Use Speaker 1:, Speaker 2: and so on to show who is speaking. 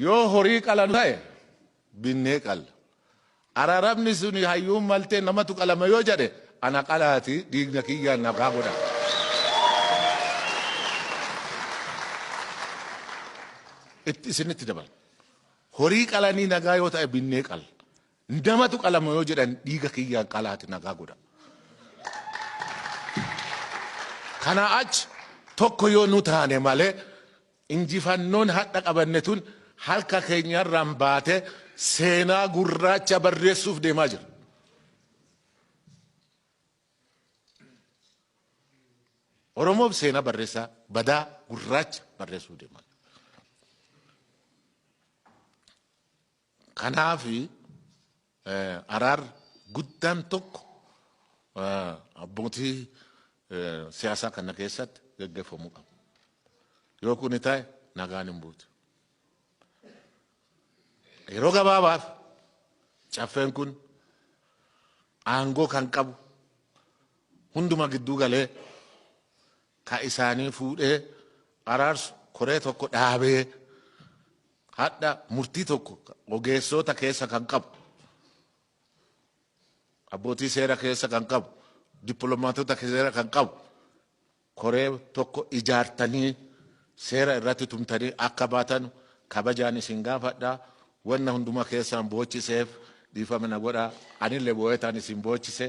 Speaker 1: Yoo horii qalanu ta'e binnee qalla. Araarabni suni hayyuun maltee namatu qalama yoo jedhe ana qalaati dhiigna kiyyaan nagaa godha. Itti isinitti dabala. Horii qalanii nagaa yoo ta'e binnee qalla. Namatu qalama yoo jedhan dhiiga kiyyaan qalaati nagaa godha. Kana achi tokko yoo nu taane malee Injifannoon hadha qabanne tun harka keenya irraan baatee seenaa gurraacha barreessuuf deemaa jirra. Oromoof seenaa barreessaa badaa gurraacha barreessuuf deemaa jirra. Kanaaf araarri guddaan tokko abbootii siyaasaa kana keessatti gaggeeffamuu qaba. Yoo kuni ta'e nagaan hin buutu. Yeroo gabaabaaf caffeen kun aangoo kan qabu hunduma gidduu galee ka isaanii fuudhee araarsu koree tokko dhaabee hadha murtii tokko ogeessoota keessa kan qabu abbootii seera keessa kan qabu dippiloomaatota seera kan qabu koree tokko ijaartanii seera irratti tumtanii akka baatan kabajaan isin gaafadha wanna hunduma keessaan boochiseef dhiifama na godha anillee boo'etaan isin boochise.